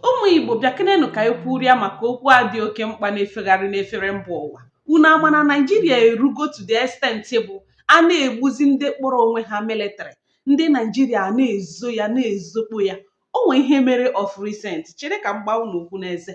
ụmụ igbo bịakenenụ ka anyị kwurịa maka okwu a dị oke mkpa na-efegharị n'efere mba ụwa unu ama na naijiria erugo to the extent bụ a na-egbuzi ndị kpọrọ onwe ha military ndị naijiria na-ezo ya na-ezokpo ya o nwee ihe mere of recent chere ka m gbaa unu okwu n'eze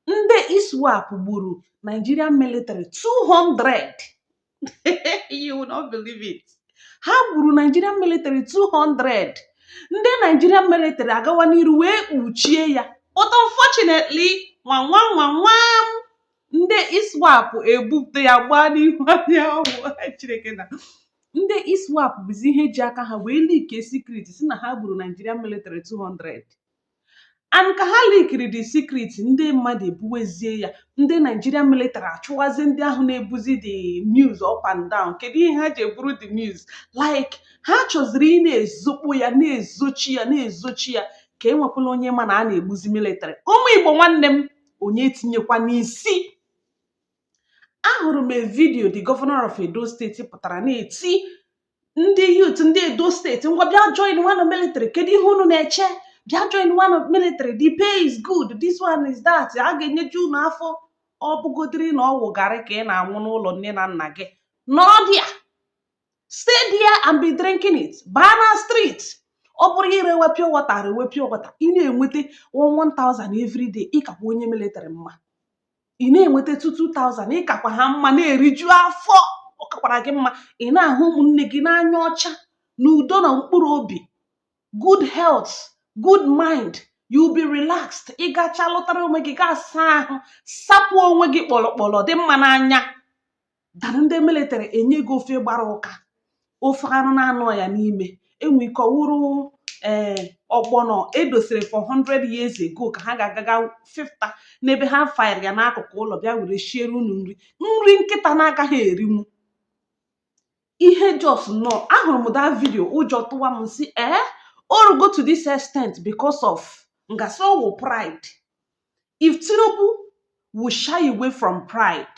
ndị iswap gburu nigerian military 200 you will not believe it ha gburu Nigerian military 200 ndị Nigerian military agawa n'iru wee kpuchie ya but unfortunately nwa nwa nwa nwa ndị ISWAP ebupụta ya gbaa n'ihu anyanwụ Chineke na ndị ISWAP bụzi ihe ji aka ha wee leak secret si na ha gburu Nigerian military 200 and ka ha leakiri the secret ndị mmadụ ebuwezie ya ndị Nigerian military achụwazi ndị ahụ na-ebuzi the news up and down kedu ihe ha ji eburu the news like ha chọziri ị na-ezokpo ya na-ezochi ya na-ezochi ya ka enwekwala onye ma na a na-egbuzi military ụmụ Igbo nwanne m onye etinyekwana isi ahụrụ m vidiyo the governor of Edo steeti pụtara na-eti ndị youth ndị edo steeti ngwa bịa joinwanụ military kedu ihe unu na-eche bịa joinwanụ military the pay is good this one is that a ga-enyeju unu afọ ọ bụgodiri na ọ wụ garri ka ị na-aṅụ n'ụlọ nne na nna gị nọdịa stay there and be drinking it baa na street ọ bụrụ irewe pure water rewe pure water ị na-enweta 1000 every day ị kakwa onye military mma ị na-enweta 2000 ị kakwa ha mma na-eriju afọ ọ kakwara gị mma ị na-ahụ ụmụnne gị n'anya ọcha n'udo na mkpụrụ obi good health good mind you be relaxed ị gacha lụtara onwe gị gaa saa ahụ sapụ onwe gị kpọlọkpọlọ dị mma n'anya than ndị military enye gị ofe gbara ụka ofe anụ na-anọ ya n'ime o nwee ike ọ wụrụ ee eh, ọgbọnọ e dosiri for 100 years ago ka ha ga-agaga fifta n'ebe ha fire ya n'akụkụ ụlọ bịa were shiere unu nri nri nkịta na-agaghị erinwu ihe just nọ ahụrụ m that vidio ụjọ tụwa m si ee eh, o rugo to this extent because of m ga-asị ọ wụ pride if tinubu will shy away from pride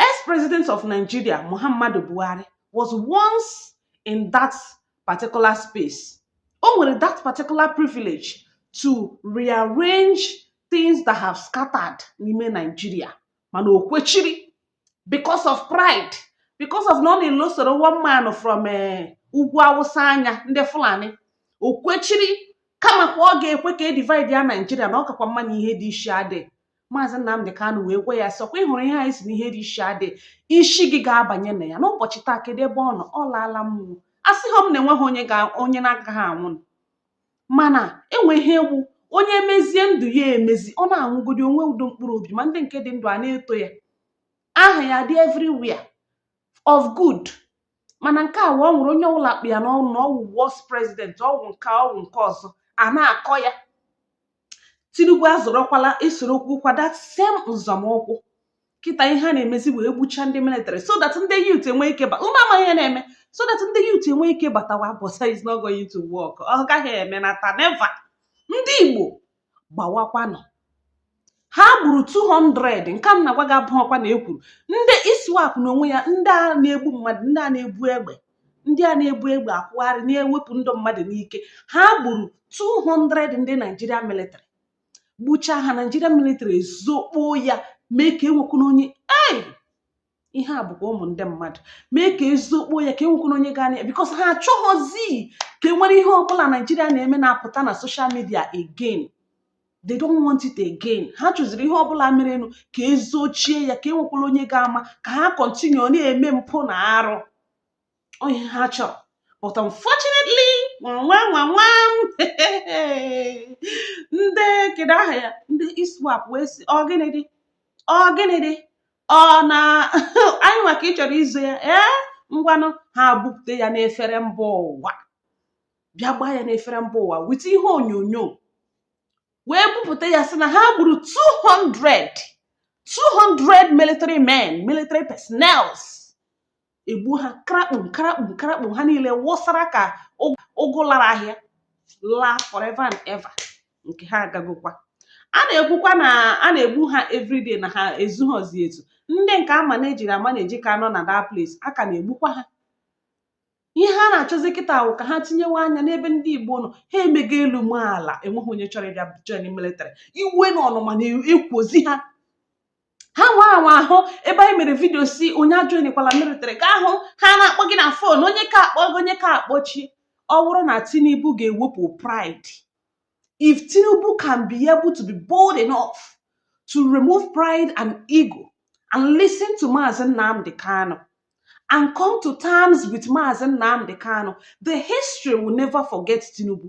Ex-president of Nigeria, Muhammadu Buhari, was once in that particular space. O nwere that particular privilege to rearrange things that have scattered n'ime Nigeria mana o kwechiri because of pride because of na ọ na-elosoro one man from eh, ugwu awụsa anya ndị fulani o kwechiri kama ka ọ ga-ekwe ka e divide ya naijiria na ọ kakwa mma na ihe dị iche adị maazị nnamdị kanụ wee gwa ya sị ọkwa ịhụrụ ihe anyị si n'ihe dị ishi adị ishi gị ga-abanye na ya n'ụbọchị taa kedu ebe ọ nọ ọ laala mmụọ asịghị m na enweghị onye ga onye na-agaghị anwụ nụ. mana enweghị egwu onye emezie ndụ ya emezi ọ na-anwụgodi o nwee udo mkpụrụ obi ma ndị nke dị ndụ a na-eto ya aha ya dị everywhere of good mana nke a wụ ọ nwụrụ onye ọbụla akpụ ya n'ọnụ na ọwụ worst president ọwụ nke a, ọwụ nke ọzọ a na-akọ ya tinubu azọrọkwala esorokwukwa that same nzọmụkwụ kịta ihe a na-emezi wee gbucha ndị military so that ndị youth enwe ike ba unu amaghị ihe na-eme so that ndị youth enwe ike batawa but is not going to work ọ gaghị eme nata never ndị igbo gbawakwanụ ha gburu 200 nke m na-agwa gị abụọkwa na ekwuru ndị iswap na onwe ya ndị a na-egbu mmadụ ndị a na-ebu egbe ndị a na-ebu egbe akwụgharị na-ewepụ ndụ mmadụ n'ike ha gburu 200 ndị naijiria military gbuchaa ha naijiria military ezokpoo ya mee ka enwekwana onye ei ihe a bụkwa ụmụ ndị mmadụ mee ka ezokpo ya ka enwekwana onye ga-anụ ya because ha achọghọzi ka e nwere ihe ọbụla naijiria na-eme na-apụta na social media again they don't want it again ha chọziri ihe ọbụla merenụ ka ezochie ya ka enwekwala onye ga-ama ka ha continue na-eme mpụ na arụ ihe ha chọrọ but unfortunately nwa nwa nwa ndị kedu aha ya ndị iswap wee sị ọ gịnị dị ọ gịnị dị ọ na anyị nwa ka ị chọrọ izo ya ee ngwanụ ha bupụta ya n'efere mba ụwa bịa gbaa ya n'efere mba ụwa with ihe onyonyo wee bupụta ya sị na ha gburu 200 200 military men military personnels egbuo ha karakpum karakpum karakpum ha niile wụsara ka ụgụ lara ahịa laa forever and ever nke ha agagokwa a na-ekwukwa na a na-egbu ha everyday na ha ezughọzi ezu ndị nke a manage-iri amanage ka nọ na that place a ka na-egbukwa ha ihe ha na-achọzi kịta wụ ka ha tinyewe anya n'ebe ndị igbo nọ ha emego elu ma ala enweghị onye chọrọ ịbịa join military iwe na ọnụma na-ekwozi ha ha nwa anwa ahụ ebe anyị mere vidio sị onye ajoinkwala military ga-ahụ ha na-akpọ gị na fon onye ka akpọ gị onye ka akpọchi ọ bụrụ na tinubu ga-ewepụ pride if tinubu can be able to be bold enough to remove pride and ego and listen to Maazị Nnamdi Kanu and come to terms with Maazị Nnamdi Kanu the history will never forget tinubu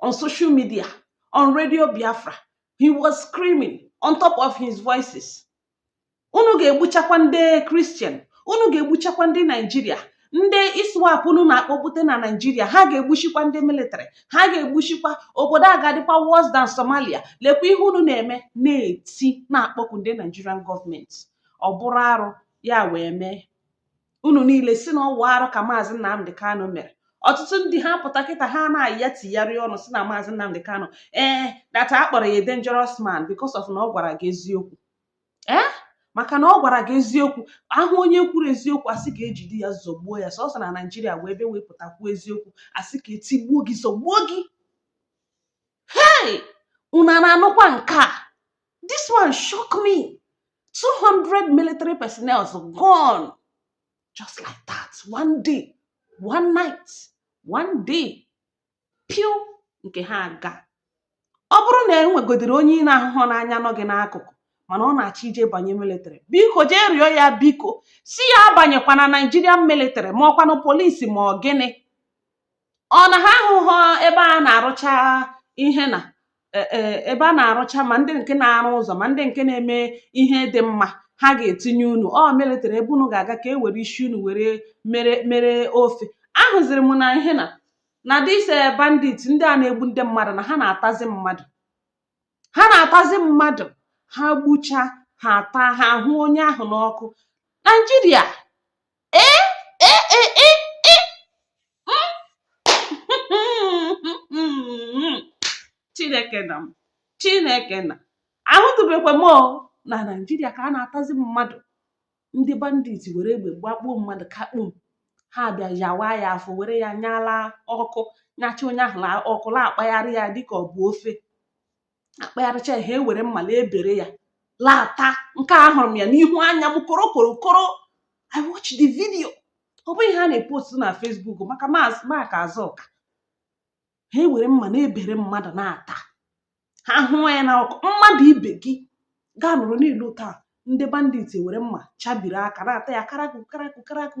on social media on radio biafra he was screaming on top of his voices unu ga-egbuchakwa ndị kristian unu ga-egbuchakwa ndị naijiria ndị iswap unu na-akpọpụta na naijiria ha ga-egbuchikwa ndị military ha ga-egbuchikwa obodo a ga-adịkwa worse than somalia lekwa ihe unu na-eme na-eti na-akpọku ndị nigerian gọọmenti ọ bụrụ arụ ya wee mee unu niile si na ọ wụ arụ ka maazị Nnamdị Kanụ mere ọtụtụ ndị ha pụta kịta ha na-ayị ya tigharịa ọnụ si na maazị Nnamdị Kanụ ee eh, that a kpọrọ ya dangerous man because of na ọ gwara gị eziokwu ee eh? maka na ọ gwara gị eziokwu a hụ onye kwuru eziokwu a sị ka e jide ya zọgbuo ya sọsọ na naijiria wụ ebe ị pụta kwuo eziokwu a sị ka e tigbuo gị zọgbuo gị hei unu a na-anụkwa nke a this one shock me 200 military personnel gone just like that one day one night one day piu nke ha agaa ọ bụrụ na e nwegodiri onye ị na-ahụhụ n'anya nọ gị n'akụkụ mana ọ na-achọ ije banye military biko jee rịọ ya biko si ya abanyekwana Nigerian military ma ọ kwanụ polisi ma ọ gịnị ọ na ha ahụhụ ebe a na-arụcha ihe na e, e, ebe a na-arụcha ma ndị nke na-arụ ụzọ ma ndị nke na-eme ihe dị mma ha ga-etinye unu military ebe unu ga-aga ka e were isi unu were mere mere ofe ahụziri m na ihe na na this eh, bandit ndị a na-egbu ndị mmadụ na ha na-atazi mmadụ ha na-atazi mmadụ ha gbucha ha ataa ha ahụọ onye ahụ n'ọkụ naijiria chineke nna m chineke nna ahụtụbekwa m na naijiria ka a na-atazi mmadụ ndị bandit were egbe gbakpuo mmadụ kakpum ha bịa yawa ya afọ were ya nya l'ọkụ nyacha onye ahụ ọkụ na-akpagharị ya dịka ọ bụ ofe a kpagharịcha ha ewere mma na-ebere ya la-ata nke a ahụrụ m ya n'ihu anya m koro koro koro i watch the video ọ bụghị ihe a na-epost na Facebook maka Mark Zucker ha ewere mma na-ebere mmadụ na-ata ha hụọ ya n'ọkụ mmadụ ibe gị gaa nụrụ n'ilu taa ndị bandit ewere mma chabiri aka na-ata ya karakụ karakụ karakụ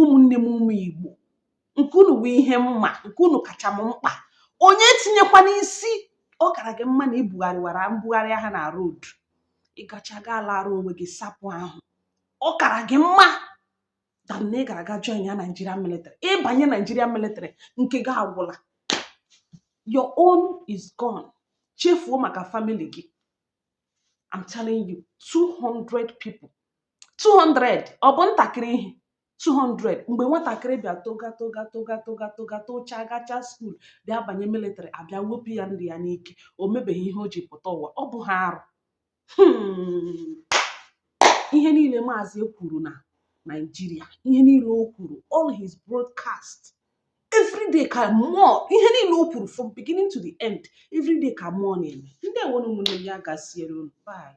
ụmụnne m ụmụ igbo nke unu bụ ihe m ma nke unu kacha m mkpa onye tinyekwa n'isi ọ kara gị mma na ị bugharịwara mbugharị ahịa na road ị gacha gị alaara onwe gị sapụ ahụ ọ kara gị mma than na ị gara gaa joinia naijiria military ị banye naijiria military nke gị agwụla your own is gone chefuo maka famili gị I'm telling you 200 people 200 ọ bụ ntakịrị ihe 200 mgbe nwatakịrị bịa toga toga toga toga toga tocha gacha school bịa banye military a bịa wepụ ya ndụ ya n'ike o mebeghị ihe o ji pụta ụwa ọ bụghị arụ hmm. ihe niile maazị kwuru na Naịjirịa ihe niile o kwuru all his broadcast everyday ka mmụọ ihe niile o kwuru from beginning to the end everyday ka mmụọ na-eme ndewo ụmụnne m ya gaziere unu bye